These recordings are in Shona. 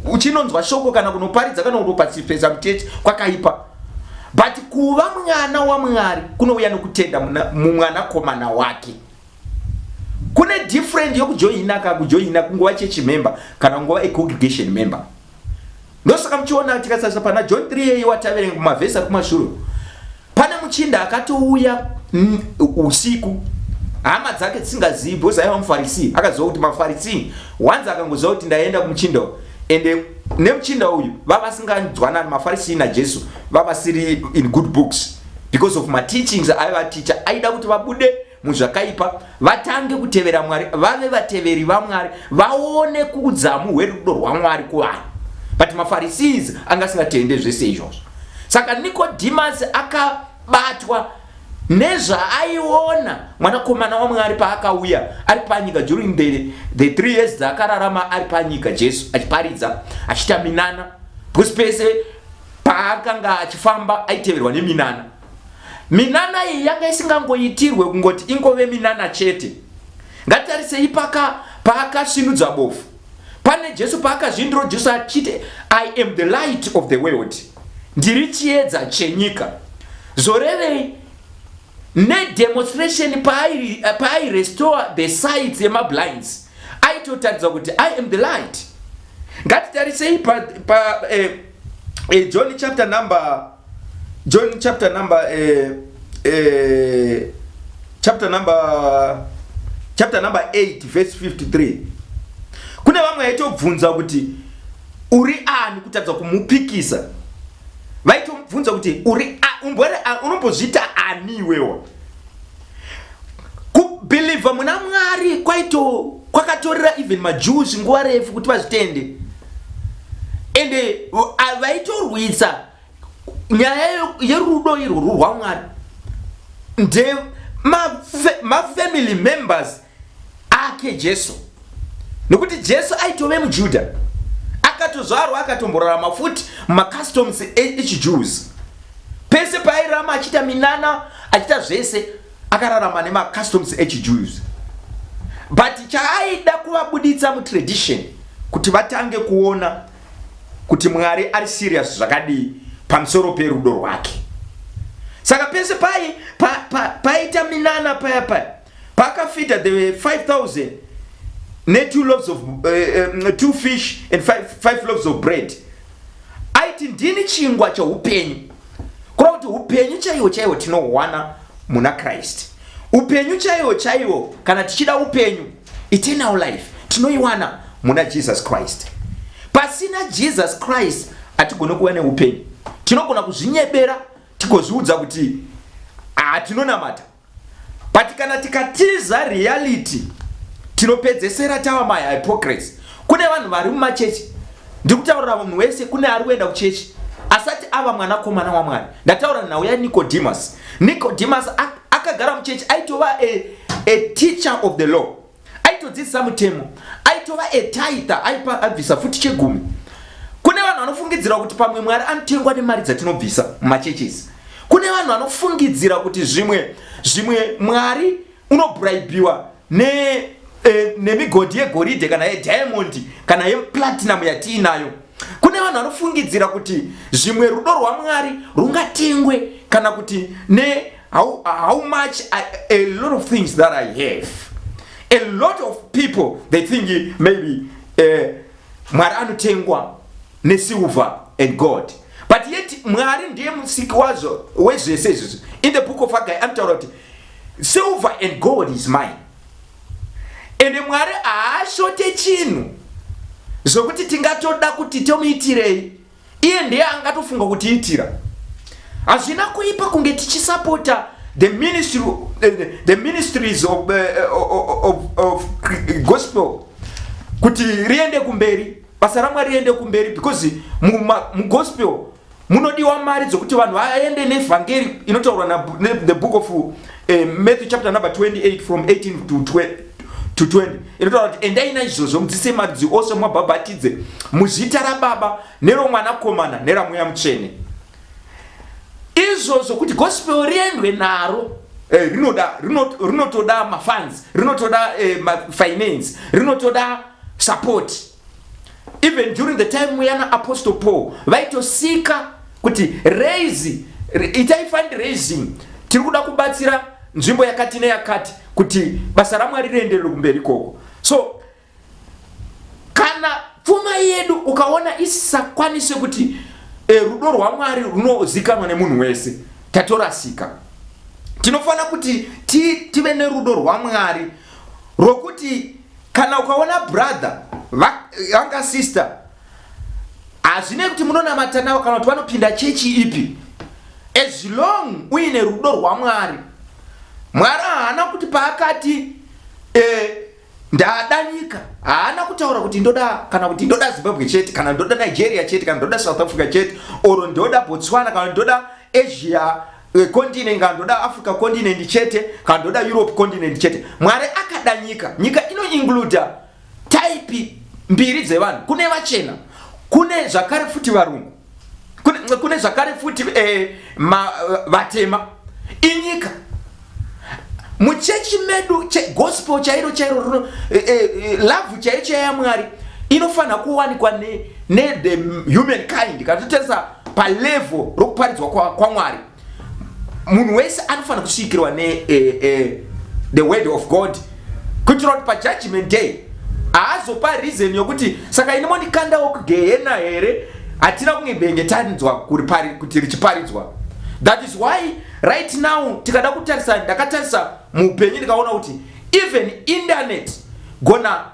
uchinonzwa shoko kana kunoparidza kana kutopasipesa mutete kwakaipa but kuva mwana wamwari kunouya nokutenda mumwanakomana wake kune different yokujoina ka kujoina kunguva chechimember kana kunguva econgregation member ndosaka muchiona tikasarisa pana john 3 yeiwataverenga kumavhesi ari kumashure Pane muchinda akatouya mm, usiku hama dzake dzisingazivi because aiva mufarisi akaziva kuti mafarisi wanzi akangoziva kuti ndaenda kumuchinda ende nemuchinda uyu vavasinganzwanani mafarisi najesu vavasiri in good books because of mateachings aivaticha aida kuti vabude muzvakaipa vatange kutevera mwari vave vateveri vamwari vaone kuudzamu hwerudo rwamwari kuvanhu but mafarisis anga asingatende zvese izvozvo saka nikodhimasi akabatwa nezvaaiona mwanakomana wamwari paakauya ari panyika during the, the three years dzaakararama ari panyika jesu achiparidza achita minana because pese paakanga achifamba aiteverwa neminana Minana iyi yanga isingangoitirwe kungoti ingove minana chete. Ngatarisei paka paakasvinudza bofu. Pane Jesu paakazvindiro Jesu achiti I am the light of the world. Ndiri chiedza chenyika. Zorevei nedemonstration pairestore the sights yemablinds aitotaridza kuti I am the light. Ngatitarisei pa, pa eh, eh, john chapter number john chapter number eh, eh, chapter number chapter number 8 verse 53 kune vamwe vaitobvunza kuti uri ani kutadza kumupikisa vaitomubvunza kuti uri unombozviita ani iwewa kubhilivha muna mwari kwaito kwakatorera even majews nguva refu kuti vazvitende ende vaitorwisa nyaya yerudo irworwu rwamwari nde mafamily members ake Jesu, nokuti Jesu aitove muJuda akatozvarwa akatomborarama futi mumacustoms e-, echiJews pese paairama achiita minana achiita zvese akararama nemacustoms echiJews but chaaida kuvabuditsa mutradition kuti vatange kuona kuti Mwari ari serious zvakadii pamusoro perudo rwake saka pese pai paita pa, pa, minana paya paya Paakafidha the 5000 ne two loaves of uh, two fish and five, five loaves of bread aiti ndini chingwa cheupenyu kura kuti upenyu chaiwo chaiwo tinohwana muna Christ upenyu chaiwo chaiwo kana tichida upenyu eternal life tinoiwana muna Jesus Christ pasina Jesus Christ hatigone kuva neupenyu tinogona kuzvinyebera tigozviudza kuti hatinonamata ah, but kana tikatiza reality tinopedzesera tava mahypocrates kune vanhu vari mumachechi ndikutaurira munhu wese kune ari kuenda kuchechi asati ava mwanakomana wamwari ndataura nhau yanicodemus nicodemus akagara muchechi aitova a, a teacher of the law aitodzidzisa mutemo aitova etaitha aipa abvisa futi chegumi kune vanhu vanofungidzira kuti pamwe mwari anotengwa nemari dzatinobvisa mumachechesi kune vanhu vanofungidzira kuti zvimwe zvimwe mwari unobraibiwa ne Eh, nemigodhi yegoridhe kana yediamondi kana yeplatinum yatiinayo kune vanhu vanofungidzira kuti zvimwe rudo rwamwari rungatengwe kana kuti ne how, how much I, a lot of things that i have a lot of people they think maybe uh, mwari anotengwa nesilver and god but yet mwari ndiye musiki wazvo wezvese izvozvo in the book of agai anotaura kuti silver and gold is mine ende mwari haashote chinhu zvokuti tingatoda kuti tomuitirei iye ndiye angatofunga kutiitira hazvina kuipa kunge tichisapota the ministry eh, the, the ministries of, eh, eh, of, of, of gospel kuti riende kumberi basa ramwari riende kumberi because mugospel mu munodiwa mari dzokuti vanhu vaende nevhangeri inotaurwa the book of uh, matthew chapter number 28 from 18 to 20 to 20 inotaura kuti endai naizvozvo mudzise marudzi ose mumabhabhatidze muzita rababa neromwanakomana neramweya mutsvene izvozvo kuti gospel riendwe naro eh, rinoda rinotoda mafans rinotoda eh, mafinance rinotoda sapoti even during the time yana apostle paul vaitosika kuti raise itai fundraising tiri kuda kubatsira nzvimbo yakati neyakati kuti basa ramwari rienderere kumberi ikoko so kana pfuma yedu ukaona isisakwanise kuti e, rudo rwamwari runozikanwa nemunhu wese tatorasika tinofanira kuti tive nerudo rwamwari rwokuti Kana ukaona brother vanga sister hazvine kuti munonamata navo kana kuti vanopinda chechi ipi as long uine rudo rwamwari mwari haana kuti paakati eh, ndada nyika haana kutaura kuti ndoda kana kuti ndoda zimbabwe chete kana ndoda nigeria chete kana ndoda south africa chete or ndoda botswana kana ndoda asia Eh, continent kana ndoda africa continent chete kana ndoda europe continent chete mwari akada nyika nyika inoincluda type mbiri dzevanhu kune vachena kune zvakare futi varungu kune, kune zvakare futi eh, ma, eh, vatema inyika muchechi medu che, gospel chairo chairo runo eh, eh, eh lavhu chaiyo chaiya mwari inofanira kuwanikwa ne, ne the human kind kana totarisa palevo rokuparidzwa kwamwari kwa munhu wese anofanira kusvikirwa ne eh, eh, the word of god kuitira kuti pajudgment day haazopa reason yokuti saka ini mondikandawo kugehena here hatina kunge benge tanzwa kuti richiparidzwa that is why right now tikada kutarisa ndakatarisa muupenyu ndikaona kuti even internet gona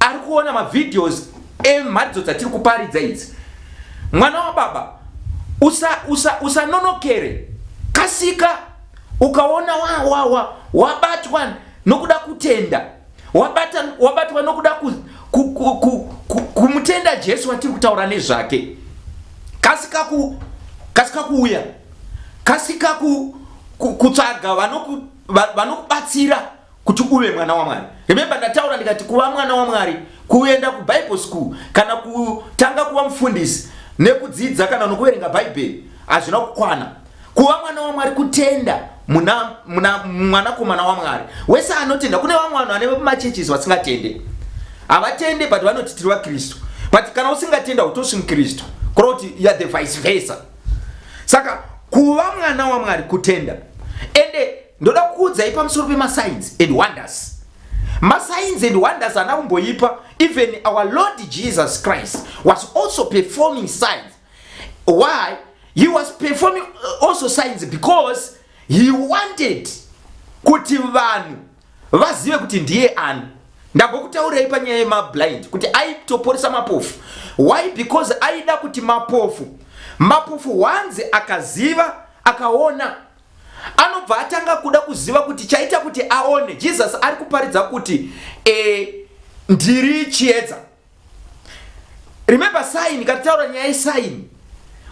ari kuona mavideos emharidzo dzatiri kuparidza idzi mwana wababa usanonokere usa, usa kasika ukaona wawawa wa, wa, wabatwa nokuda kutenda wabata, wabatwa nokuda ku, ku, ku, ku, ku, kumutenda jesu watiri kutaura nezvake kasika ku, kasika kuuya kasika ku, ku, kutsvaga vanokubatsira vano kuti uve mwana waMwari. Remember ndataura ndikati kuva mwana waMwari kuenda kuBible school kana kutanga kuva mufundisi nekudzidza kana nokuverenga Bhaibheri hazvina kukwana. Kuva mwana waMwari kutenda muna, muna mwanakomana waMwari. Wese anotenda kune vamwe vanhu vane machurches vasingatende. Havatende but vanoti tiri vaKristu. But kana usingatenda utosi muKristu. Kuri kuti you are the vice versa. Saka kuva mwana waMwari kutenda. Ende ndoda kukuudzai pamusoro pemasigns and wonders masigns and wonders ana kumboipa even our lord jesus christ was also performing signs why he was performing uh, also signs because he wanted kuti vanhu vazive kuti ndiye ani ndambokutaurei panyaya yemablind kuti aitoporesa mapofu why because aida kuti mapofu mapofu wanzi akaziva akaona anobva atanga kuda kuziva kuti chaita kuti aone jesus ari kuparidza kuti e, ndiri chiedza remember sign katitaura nyaya yesign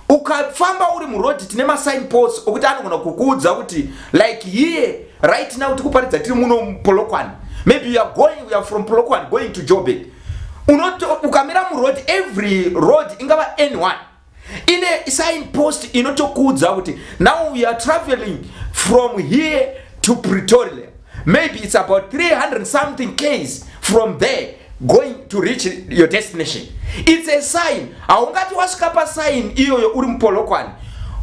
ukafamba uri murodhi tine masign post okuti anogona kukuudza kuti like here right now tikuparidza tiri muno polokwane maybe you are going you are from polokwane going to jobek ukamira muroad every road ingava any one ine sign post inotokuudza kuti now we are traveling from here to pretoria maybe it's about 300 something case from there going to reach your destination it's a sign haungati wasvika pasign iyoyo uri mupolokwani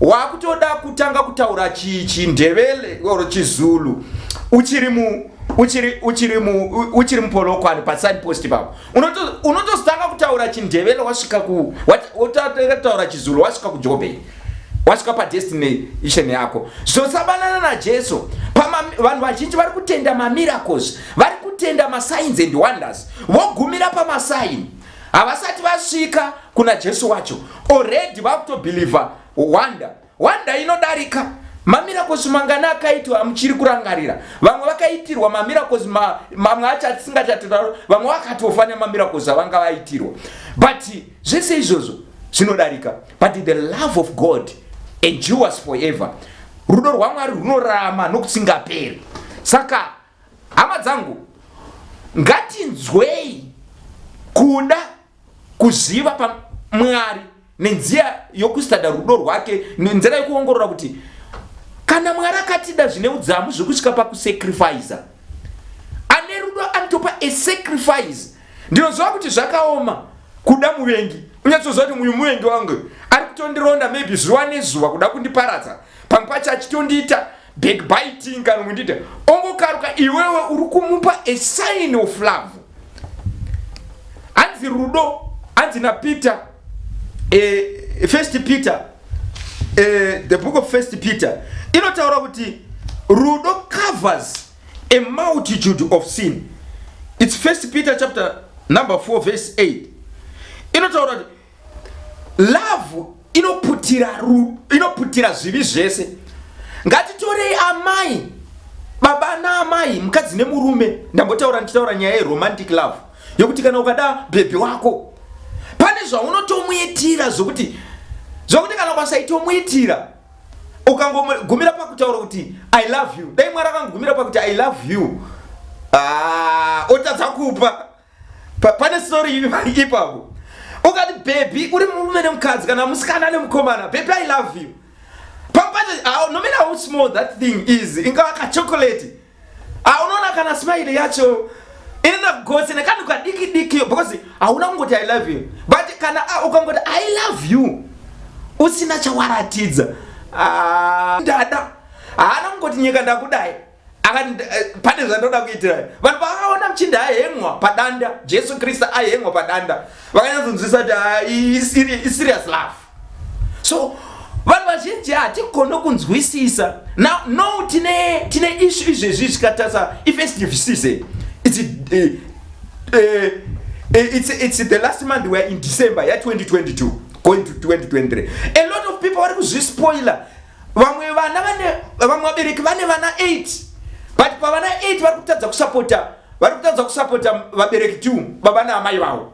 wakutoda kutanga kutaura chindevele or chizulu uchiri mu uchiri uchiri mu uchiri mupolokwani pasign post ipapo unotozotanga kutaura chindevele wasvika ku wotanga kutaura chizulu wasvika kujobe wasvika padestination yako zvosabanana najesu vanhu vazhinji vari kutenda mamiracles vari kutenda masigns and wonders vogumira pamasaini havasati vasvika kuna jesu wacho already vakutobhilivha wonder One day inodarika mamiracles mangani akaitwa amuchiri kurangarira vamwe vakaitirwa mamiracles ma, mamwe acho atisingachatotaura vamwe vakatofa nemamiracles avanga vaitirwa but zvese izvozvo zvinodarika but the love of god endures forever rudo rwamwari rwunorarama nokusingaperi saka hama dzangu ngatinzwei kuda kuziva pamwari nenzira yokusitadha rudo rwake nenzira yokuongorora kuti kana mwari akatida zvine udzamu zvekusvika pakusacrifice ane rudo anotopa a sacrifice ndinoziva kuti zvakaoma kuda muvengi unyatsoziva kuti muyu muvengi wangu ari kutondironda maybe zuva nezuva kuda kundiparadza pamwe pacho achitondiita backbiting kana kundida ongokaruka iwewe uri kumupa a sign of love hanzi rudo hanzi napeter eh, first peter eh, the book of first peter inotaura kuti rudo covers a multitude of sin its first peter chapter number 4 verse 8 inotaura kuti Love inoputira ru, inoputira zvivi zvese. Ngatitorei amai, baba naamai, mukadzi nemurume. Ndambotaura ndichitaura nyaya yeromantic love yokuti kana ukada bhebhi wako pane zvaunotomuitira zvokuti zvokuti kana ukasaitomuitira ukangogumira pakutaura kuti i love you dai mwari akangogumira pakuti i love you ah, otadza kupa Pa, pane story iri ipapo. Ukati baby uri murume nemukadzi kana musikana nemukomana, baby I love you. Papacha ah, no matter how small that thing is, ingawa ka chocolate. Ah, unaona kana smile yacho inoenda kugotsi nekanhu kadiki diki because hauna kungoti I love you. But kana ah, ukangoti I love you usina chawaratidza. Ah, dada. Haana kungoti nyika ndakudai. akati eh, pane zvandoda kuitira vanhu pavakaona muchinda ahengwa padanda jesu kristu ahengwa padanda vakanyatsokunzwisa kuti ah, iserious love so vanhu vazhinji hatigone kunzwisisa no, no tine, tine ishu izvezvi zvikatarisa ifestivesise it's, uh, uh, it's, it's the last month weare in december ya 2022 going to 2023 a lot of people vari kuzvispoiler vamwe vana vane vamwe vabereki vane vana 8 but pavana 8 vari kutadza kusapota vari kutadza kusapota vabereki tu baba naamai vavo